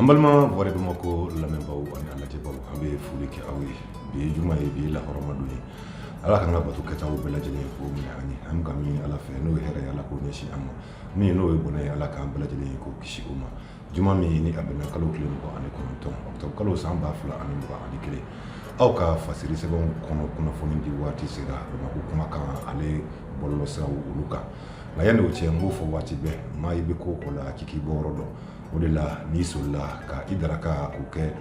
An balima wari bamakɔ lamɛnbaw ani a lajɛbaw an bɛ foli kɛ aw ye bi ye juma ye bi ye lahɔrɔma don ye ala k'an ka bato kɛtaw bɛɛ lajɛlen k'o minɛ an ye an ka min ala fɛ n'o ye hɛrɛ ye ala k'o ɲɛsin an ma min n'o ye bɔnɛ ye ala k'an bɛɛ lajɛlen ye k'o kisi o ma Juma min ni a bɛnna kalo tile mugan ani kɔnɔntɔn kalo san ba fila ani mugan ani kelen aw ka fasiri sɛbɛn kɔnɔ kunnafoni di waati sera ko kuma kan ale bɔlɔ sa olu kan nka yanni o cɛ n b'o fɔ waati bɛɛ maa i bɛ ko o la k'i bɔ yɔrɔ dɔn o de la n'i sɔlila ka i daraka o kɛ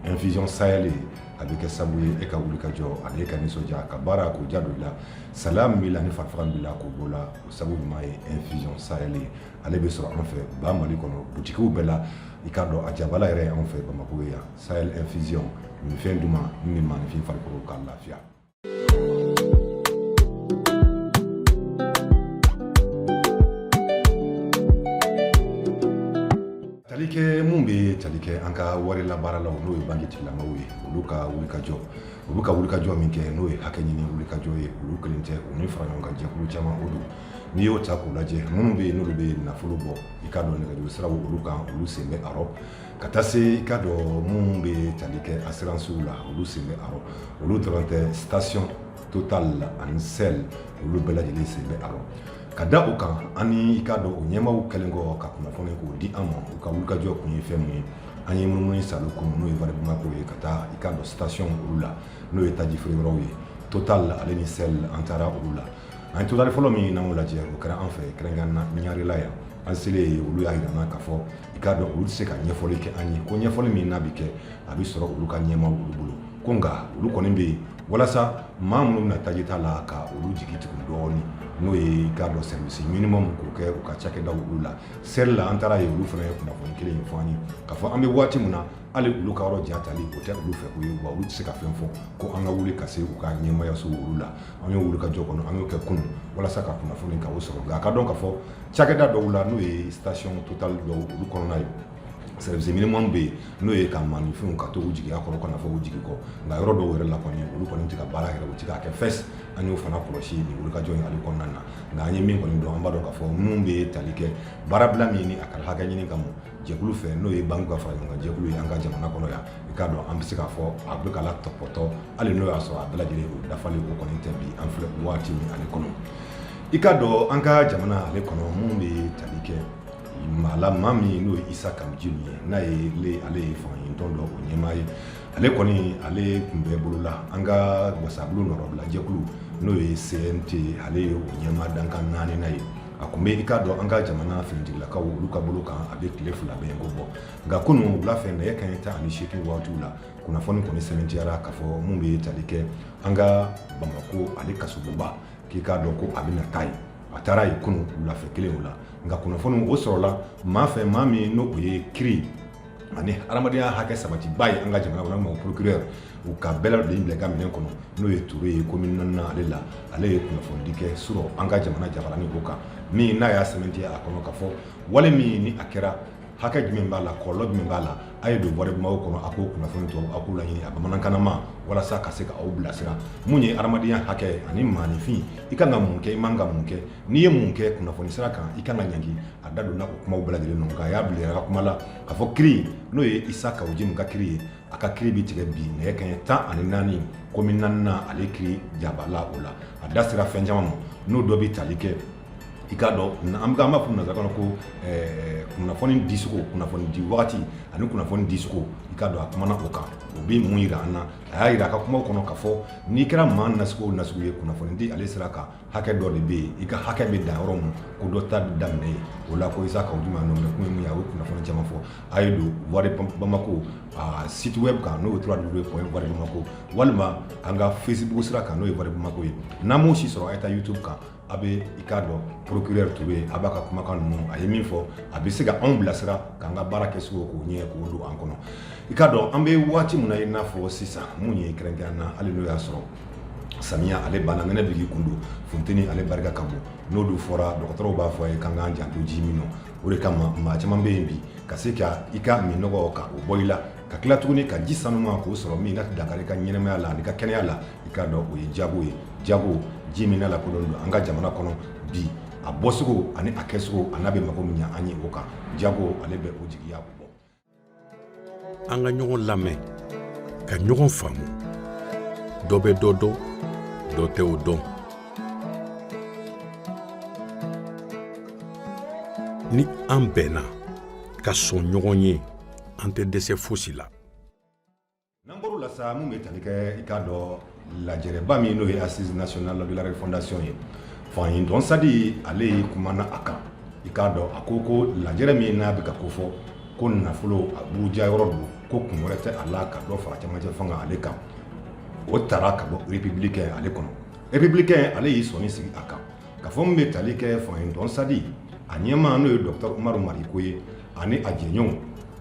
infusion sahélienne a bɛ kɛ sabu ye e ka wuli ka jɔ ani e ka nisɔndiya ka baara k'o jaabi la salaya b'i la ni fara b'i la k'o bɔ i la o sabu ɲuman ye infusion sahélienne ye ale bɛ sɔrɔ an fɛ ba mali kɔnɔ butigiw bɛɛ la i k'a dɔn a jabala yɛrɛ an fɛ bamakɔ yan sahel infusion minfɛn duman ni maninfin farikolo ka lafiya talikɛ minnu bɛ tali kɛ an ka wari labaaralaw n'o ye banki tigilamaw ye olu ka wulikajɔ u bɛ ka wulikajɔ min kɛ n'o ye hakɛ ɲini wulikajɔ ye olu kelen tɛ u ni faraɲɔgɔnkan jɛkulu caman o don n'i y'o ta k'u lajɛ minnu bɛ yen n'olu bɛ nafolo bɔ i k'a dɔn nɛgɛjuru siraw olu kan olu sen bɛ a rɔ ka taa se i k'a dɔn minnu bɛ tali kɛ asiransiw la olu sen bɛ a rɔ olu dɔrɔn tɛ station total ani sel olu bɛɛ lajɛlen sen bɛ a rɔ ka da o kan ani i k'a dɔn o ɲɛmaaw kɛlen kɔ ka kunnafoni k'o di an ma u ka wulikajɔ kun ye fɛn min ye an ye munumunu sa olu kun n'o ye wari bamakɔ ye ka taa i k'a dɔn station olu la n'o ye taji feere yɔrɔw ye total ale ni sel an taara olu la An total fɔlɔ min n'o lajɛ o kɛra an fɛ kɛrɛnkɛrɛnna ɲarela yan an selen yen olu y'a jira ka fɔ i k'a dɔn olu tɛ se ka ɲɛfɔli kɛ an ye ko ɲɛfɔli min n'a bɛ kɛ a bɛ sɔrɔ olu ka ɲɛmaaw olu bolo ko nka olu kɔni bɛ yen walasa maa minnu bɛ na taji ta la ka olu jigi tugu dɔɔnin n'o ye i k'a dɔn service minimum k'o kɛ u ka cakɛdaw olu la sel la an taara yen olu fana ye kunnafoni kelen ye fɔ an ye ka fɔ an bɛ waati min na hali olu ka yɔrɔ jatali o tɛ olu fɛ ko ye wa olu tɛ se ka fɛn fɔ ko an ka wuli ka se u ka ɲɛmayaso olu la an y'o wulikajɔ kɔni an y'o kɛ kunun walasa ka kunnafoni k'o sɔrɔ nka an k'a dɔn ka fɔ cakɛda dɔw la n'o ye station total dɔw olu kɔnɔna ye service minimum bɛ yen n'o ye ka maninfinw ka to u jigiya kɔrɔ kana fɔ u jigi kɔ nka yɔrɔ dɔw yɛrɛ la kɔni olu kɔni tɛ ka baara yɛrɛ u tɛ k'a kɛ fɛs an y'o fana kɔlɔsi nin wulikajɔ in ale kɔnɔna na nka an ye min kɔni dɔn an b'a dɔn k'a fɔ minnu bɛ tali kɛ baarabila min kɛra hakɛ ɲini kama jɛkulu fɛ n'o ye banque ka fara ɲɔgɔn kan jɛkulu ye an ka jamana kɔnɔ yan i k'a dɔn an bɛ se k'a fɔ a bɛ ka latɔpɔtɔ hali n'o y'a sɔrɔ a bɛɛ lajɛlen o dafali o kɔni tɛ bi an filɛ waati min ale kɔnɔ i k'a dɔn an ka jamana ale kɔnɔ minnu bɛ tali kɛ maa la maa min n'o ye isa kawo jim ye n'a ye ale ye fangaɲinitɔn dɔ o ɲɛmaa ye ale kɔni ale tun bɛ bolola an ka wasabulon nɔrɔbilajɛkulu n'o ye cnt ale ye o ɲɛmaa dankan naaninan ye a tun bɛ i k'a dɔn an ka jamana finitigilakaw olu ka bolo kan a bɛ tile fila bɛɛ ko bɔ nka kunun wula fɛ nɛgɛ kanɲɛ tan ani seegin waatiw la kunnafoni kɔni sɛmɛntiyara k'a fɔ minnu bɛ tali kɛ an ka bamako ale kasobonba k'i k'a dɔn ko a bɛna taa yen a taara yen kunun wulafɛ kelen o la nka kunnafoni o sɔrɔla maa fɛ maa min n'o ye kiri ani adamadenya hakɛ sabatibaa ye an ka jamana kɔnɔ procureur u ka bɛɛ de bila ka minɛn kɔnɔ n'o ye ture ye komini naaninan ale la ale ye kunnafonidi kɛ surɔ an ka jamana jabaranin ko kan min n'a y'a sɛmɛntiya a kɔnɔ k'a fɔ wale min ni a kɛra hakɛ jumɛn b'a la kɔlɔlɔ jumɛn b'a la a ye don voix de bamako kɔnɔ a ko kunnafoni tɔ a k'u laɲini a bamanankanama walasa ka se k'aw bilasira mun ye ha adamadenya hakɛ ani maaninfin i kan ka mun kɛ i man ka mun kɛ N'i ye mun kɛ kunnafoni sira kan i ka kan ka ɲangi a da donna o kumaw bɛɛ lajɛlen na nka a y'a bila a ka kuma la k'a fɔ kiri n'o ye Isa Kawo Jim ka kiri ye, a ka kiri bɛ tigɛ bi nɛgɛ kanɲɛ 14 komini naaninan ale kiri janba la o la, a da sera fɛn caman ma n'o dɔ bɛ tali kɛ i k'a dɔn an b'a fɔ nanzarakan na ko ɛɛ kunnafoni dicogo kunnafoni di wagati ani kunnafoni dicogo i k'a dɔn a kumana o kan o bɛ mun jira an na a y'a jira a ka kumaw kɔnɔ k'a fɔ n'i kɛra maa nasugu o nasugu ye kunnafoni di ale sira kan hakɛ dɔ de bɛ yen i ka hakɛ bɛ dan yɔrɔ min ko dɔ ta daminɛ yen o la ko isa kawo jim nɔ minɛ kun ye mun ye a bɛ kunnafoni caman fɔ a ye don voix de bamako a site web kan n'o ye trois w point voix de bamako walima an ka facebook sira kan n'o ye voix de bamako ye n'a m'o si sɔrɔ a ye taa youtube kan a bɛ i k'a dɔn procureur tun bɛ a b'a ka kumakan ninnu a ye min fɔ a bɛ se ka anw bilasira k'an ka baara kɛcogo k'o ɲɛ k'o don an kɔnɔ i k'a dɔn an bɛ waati min na i n'a fɔ sisan mun ye kɛrɛnkɛrɛn na hali n'o y'a sɔrɔ samiya ale banna nɛnɛ bigi kun don funteni ale barika ka bon n'o dun fɔra dɔgɔtɔrɔw b'a fɔ an ye k'an k'an janto ji min nɔ o de kama maa caman bɛ yen bi ka se ka i ka minnɔgɔ ka o bɔ i la ka tila tuguni ka ji sanuma k'o sɔrɔ min kana dankari i ka ɲɛnamaya la an'i ka kɛnɛya la i k'a dɔn o ye jago ye jago ji min lakodɔn don an ka jamana kɔnɔ bi a bɔsogo ani a kɛsogo an'a bɛ mago min ɲɛ an ye o kan jago ale bɛ o jigiya bɔ an ka ɲɔgɔn lamɛn ka ɲɔgɔn faamu dɔ bɛ dɔ dɔn dɔ tɛ o dɔn ni an bɛnna ka sɔn ɲɔgɔn ye an tɛ dɛsɛ fosi la n'an bɔr'o la sa min bɛ tali kɛ i k'a dɔn lajɛrɛba min n'o ye assise nationale de la refondation ye fangaɲinitɔn SADI ale y'i kumana a kan i k'a dɔn a ko ko lajɛrɛ min n'a bɛ ka kofɔ ko nafolo a buruja yɔrɔ don ko kun wɛrɛ tɛ a la ka dɔ fara cɛmancɛ fanga ale kan o tara ka bɔ républicain ale kɔnɔ républicain ale y'i sɔnin sigi a kan k'a fɔ min bɛ tali kɛ fangaɲinitɔn SADI a ɲɛmaa n'o ye docteur Umaru Mariko ye ani a jɛɲɔgɔnw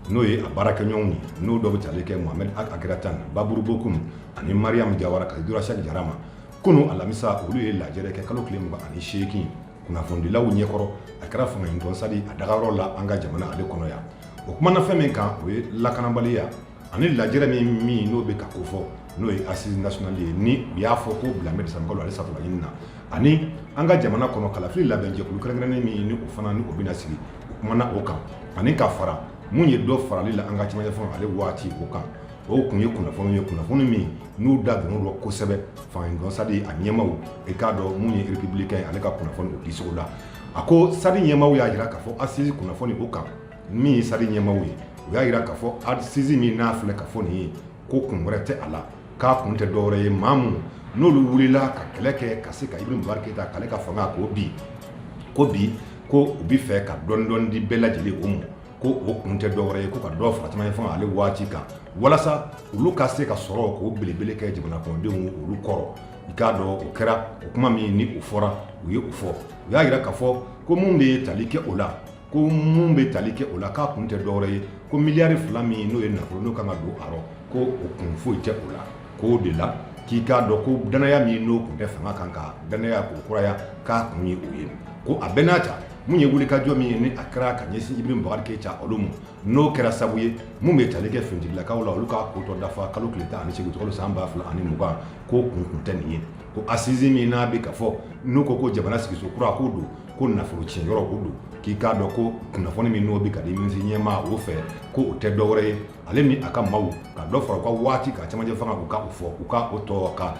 n'o ye a baarakɛɲɔgɔnw ye n'o dɔ bɛ tali kɛ Mohamed Ag Akeratane, Babarou Bocoum ani Mariam Diawara ka se Dora Cheick Diarra ma, kunu alamisa olu ye lajɛrɛ kɛ kalo tile mugan ani seegin kunnafonidilaw ɲɛkɔrɔ, a kɛra fangaɲinitɔn SADI a dagayɔrɔ la an ka jamana ale kɔnɔ yan, o kumana fɛn min kan o ye lakanabaliya ani lajɛrɛ min min n'o bɛ ka kofɔ n'o ye assise nationale ye ni u y'a fɔ k'o bilalen bɛ desanburukalo ale satɔla ɲini na ani an ka jamana kɔnɔ kalafili labɛnjɛkulu kɛrɛnkɛrɛnnen min ni o fana ni o bɛna sigi o kumana o kan ani ka fara min ye dɔ farali la an ka cɛmancɛ fanga ale waati o kan o tun ye kunnafoni ye kunnafoni min n'u da donn'o rɔ kosɛbɛ fangaɲinitɔn SADI a ɲɛmaw i k'a dɔn min ye républicain ale ka kunnafoni o dicogo la a ko SADI ɲɛmaw y'a jira k'a fɔ assise kunnafoni o kan min ye SADI ɲɛmaw ye u y'a jira k'a fɔ assise min n'a filɛ ka fɔ nin ye ko kun wɛrɛ tɛ a la k'a kun tɛ dɔwɛrɛ ye maa minnu n'olu wulila ka kɛlɛ kɛ ka se ka Ibrahim Boubacar Keïta k'ale ka fanga k'o bin ko bi ko u bɛ fɛ ka dɔɔnin dɔɔnin di bɛɛ lajɛlen o ma ko o kun tɛ dɔwɛrɛ ye ko ka dɔ fara cɛmancɛ fanga ale waati kan walasa olu ka se ka sɔrɔ k'o belebele kɛ jamanadenw olu kɔrɔ i k'a dɔn o kɛra o kuma min ni o fɔra u ye o fɔ u y'a jira k'a fɔ ko min bɛ tali kɛ o la ko minnu bɛ tali kɛ o la k'a kun tɛ dɔwɛrɛ ye ko miliyari fila min n'o ye nafolo n'o ka kan ka don a rɔ ko o kun foyi tɛ o la k'o de la k'i k'a dɔn ko dannaya min n'o tun tɛ fanga kan ka dannaya k'o kuraya k'a kun ye o ye ko a bɛɛ n'a ta min ye wulikajɔ min ye ni a kɛra ka ɲɛsin Ibrahim Boubacar Keïta olu ma n'o kɛra sabu ye minnu bɛ tali kɛ finitigilakaw la olu k'a ko tɔ dafa kalo tile tan ani seegin utikalo san ba fila ani mugan k'o kun tun tɛ nin ye ko assise min n'a bɛ ka fɔ n'u ko ko jamana sigicogo kura k'o don ko nafolo tiɲɛ yɔrɔ o don k'i k'a dɔn ko kunnafoni min n'o bɛ ka di minisiri ɲɛmaa o fɛ ko o tɛ dɔwɛrɛ ye ale ni a ka maaw ka dɔ fara u ka waati ka cɛmancɛ fanga u ka o fɔ u ka o tɔ ka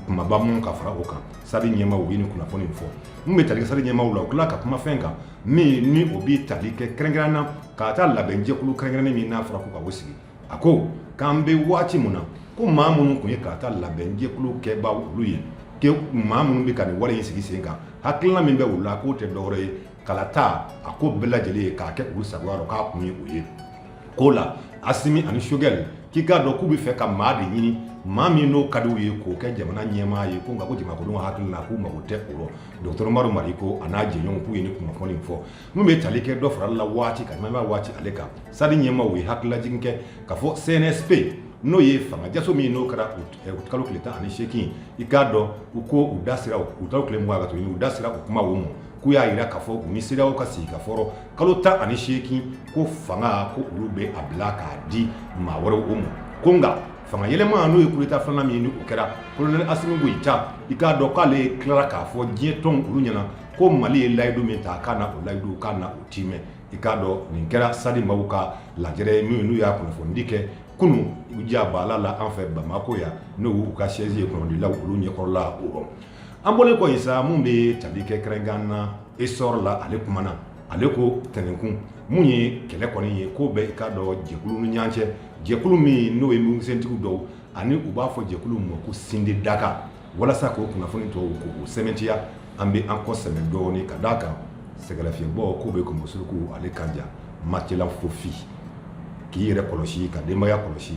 kumaba minnu ka fara o kan SADI ɲɛmaw ye nin kunnafoni fɔ min bɛ tali kɛ SADI ɲɛmaw la u tilala ka kuma fɛn kan min ni o bɛ tali kɛ kɛrɛnkɛrɛn na kalata labɛnjɛkulu kɛrɛnkɛrɛnnen min n'a fɔra ko ka o sigi a ko k'an bɛ waati min na ko maa minnu tun ye kalata labɛnjɛkulu kɛba olu ye ko maa minnu bɛ ka nin wale in sigi sen kan hakilina min bɛ u la k'o tɛ dɔwɛrɛ ye kalata a ko bɛɛ lajɛlen ye k'a kɛ u sago rɔ k'a kun ye o ye k'o la Assimi ani Choguel k'i k'a dɔn k'u bɛ fɛ ka maa de ɲini maa min n'o ka di u ye k'o kɛ jamana ɲɛmaa ye ko nka ko jamanakolon hakilila k'u mago tɛ o rɔ dɔgɔtɔrɔ Umaru Mariko a n'a jɛɲɔgɔnw k'u ye nin kunnafoni fɔ N'u bɛ tali kɛ dɔ farali waati ka ɲa waati ale kan sadi ɲɛmaaw ye hakililajigin kɛ ka fɔ CNSP n'o ye fanga jaso min n'o kɛra kalo tile tan ani seegin i k'a dɔn u ko u da sera u da tile mɔgɔ ka to u da sera u kuma ma k'u y'a jira ka fɔ u ni sew ka sigikafɔ kalo tan ani seegin ko fanga ko olu bɛ a bila k'a di maa wɛrɛw ma ko nka fanga yɛlɛma n'o ye kudeta filanan min kɛra kolonɛli asimi goyita i k'a dɔn k'ale ye tila k'a fɔ diɲɛ tɔ olu ɲɛna ko mali ye layidu min ta k'a na o layidu k'a na o tiimɛ i k'a dɔn nin kɛra sadi maaw ka lajɛ ye min n'u y'a kunnafonidi kɛ kunun u diya baala la an fɛ bamakɔ yan n'o y'u ka siɛzi ye kunnafonidilaw olu ɲɛkɔrɔla o an bɔlen kɔ in sa min bɛ tali kɛ kɛrɛnkan na esɔri la ale kumana ale ko tɛnɛnkun min ye kɛlɛ kɔni ye k'o bɛ i k'a dɔn jɛkuluw ni ɲɔgɔn cɛ jɛkulu min n'o ye mugukisɛtigiw dɔw ani u b'a fɔ jɛkulu ma ko sindi daga walasa k'o kunnafoni tɔw k'u sɛmɛntiya an bɛ an kɔ sɛmɛ dɔɔnin ka d'a kan sɛgɛnlafiɲɛbɔ k'o bɛ kunbo suruku ale kan ja matela fofi k'i yɛrɛ kɔlɔsi ka denbaya kɔlɔsi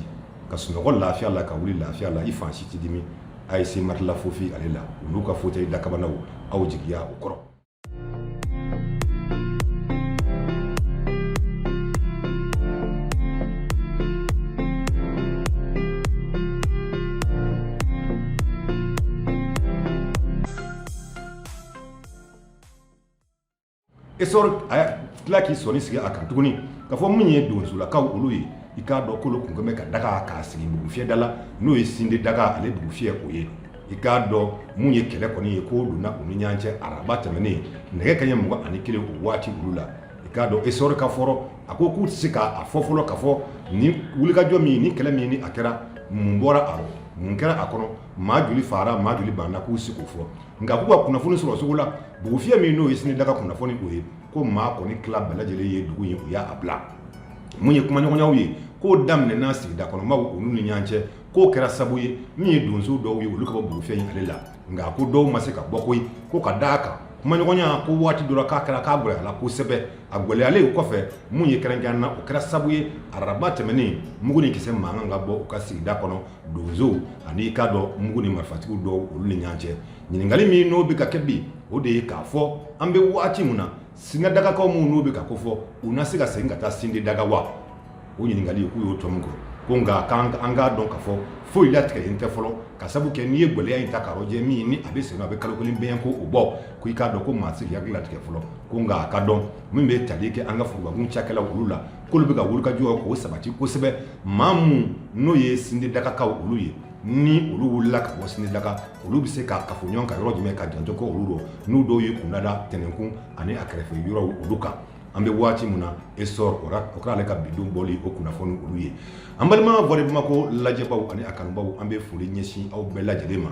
ka sunɔgɔ lafiya la ka wuli lafiya la i fan si tɛ dimi a ye se matela fofi ale la u n'u ka fauteuil dakabanaw aw jigiya u kɔrɔ Esɔri ye tila k'i sɔnin sigi a kan tuguni ka fɔ min ye donsolakaw olu ye i k'a dɔn k'olu tun bɛ ka daga k'a sigi bugufiyɛ da la n'o ye sindi daga ale bugufiyɛ o ye i k'a dɔn min ye kɛlɛ kɔni ye k'o donna u ni ɲɔgɔn cɛ araba tɛmɛnen nɛgɛ kanɲɛ mugan ani kelen o waati olu la i k'a dɔn esɔri ka fɔ rɔ a ko k'u tɛ se k'a fɔ fɔlɔ ka fɔ ni wulikajɔ min ni kɛlɛ min ni a kɛra mun bɔra a rɔ mun kɛra a kɔnɔ maa joli fagara maa joli banna k'u tɛ se k'o fɔ nka k'u ka kunnafoni sɔrɔcogo la bugufiyɛ min n'o ye sindi daga kunnafoni o ye ko maa kɔni tila bɛɛ lajɛlen ye dugu ye u y'a bila min ye kumaɲɔgɔnyaw ye k'o daminɛna sigida kɔnɔmaaw olu ni ɲɔgɔn cɛ k'o kɛra sabu ye min ye donso dɔw ye olu ka bɔ bugufiyɛ ale la nka ko dɔw ma se ka bɔ koyi ko ka da a kan kumaɲɔgɔnya ko waati dɔ ra k'a kɛra k'a gɛlɛyala kosɛbɛ a gɛlɛyalen kɔfɛ min ye kɛrɛnkɛ na o kɛra sabu ye araba tɛmɛnen mugu ni kisɛ mankan ka bɔ u ka sigida kɔnɔ donsow ani i k'a dɔn mugu ni marifatigiw dɔw olu ni ɲɔgɔn cɛ ɲininkali min n'o bɛ ka kɛ bi o de ye k'a fɔ an bɛ waati min na sindi dagakaw minnu n'u bɛ ka kofɔ u na se ka segin ka taa sindi daga wa o ɲininkali k'u y'o tɔmɔ kɔ ko nka an k'a dɔn ka fɔ foyi latigɛlen tɛ fɔlɔ ka sabu kɛ n'i ye gɛlɛya in ta k'a lajɛ min ni a bɛ se a bɛ kalo kelen bɛn ko o bɔ ko i k'a dɔn ko ma se ka latigɛ fɔlɔ ko nka a ka dɔn min bɛ tali kɛ an ka forobakun cakɛla olu la k'olu bɛ ka wulikajɔ k'o sabati kosɛbɛ maa minnu n'o ye sindedagakaw olu ye ni olu wulila ka bɔ sindedaga olu bɛ se ka kafo ɲɔgɔn kan yɔrɔ jumɛn ka janto ko olu don n'u dɔw ye kundada tɛnɛnkun ani a kɛrɛfɛ yɔrɔ olu kan an bɛ waati min na essor oke ale ka bidon bɔli o kunnafoni olu ye an balima voix de bamako lajɛbaaw ani a kanubaw an bɛ foli ɲɛsin aw bɛɛ lajɛlen ma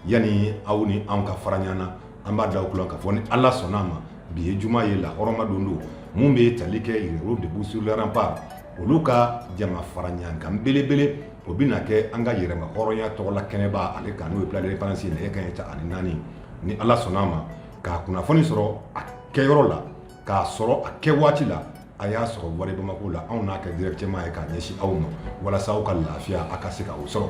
yani aw ni an ka fara ɲɔgɔn na an b'a da aw tulo kan ka fɔ ni ala sɔnna a ma bi ye juma ye lahɔrɔma don don min bɛ tali kɛ yɛrɛwolo debout sur les remparts olu ka jama fara ɲɔgɔn kan belebele o bɛ na kɛ an ka yɛrɛmahɔrɔnya tɔgɔ la kɛnɛba ale kan n'o ye l'indépendance ye ka ta ani naani ni ala sɔnna a ma ka kunnafoni sɔrɔ a kɛyɔrɔ la k'a sɔrɔ a kɛ waati la a y'a sɔrɔ voix de bamako la anw n'a kɛ directement ye k'a ɲɛsin aw ma walasa aw ka lafiya a ka se ka o sɔrɔ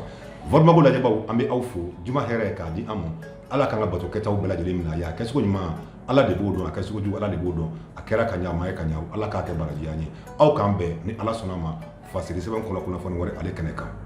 voix de bamako lajɛbaw an bɛ aw fo juma hɛrɛ k'a di an ma ala k'an ka bato kɛtaw bɛɛ lajɛlen minɛ a ye a kɛcogo ɲuman ala de b'o dɔn a kɛcogo jugu ala de b'o dɔn a kɛra ka ɲa a ma kɛ ka ɲa ala k'a kɛ baraji an ye aw k'an bɛn ni ala sɔnna ma fasiri sɛbɛn kɔnɔ kunnafoni wɛrɛ ale kɛnɛ kan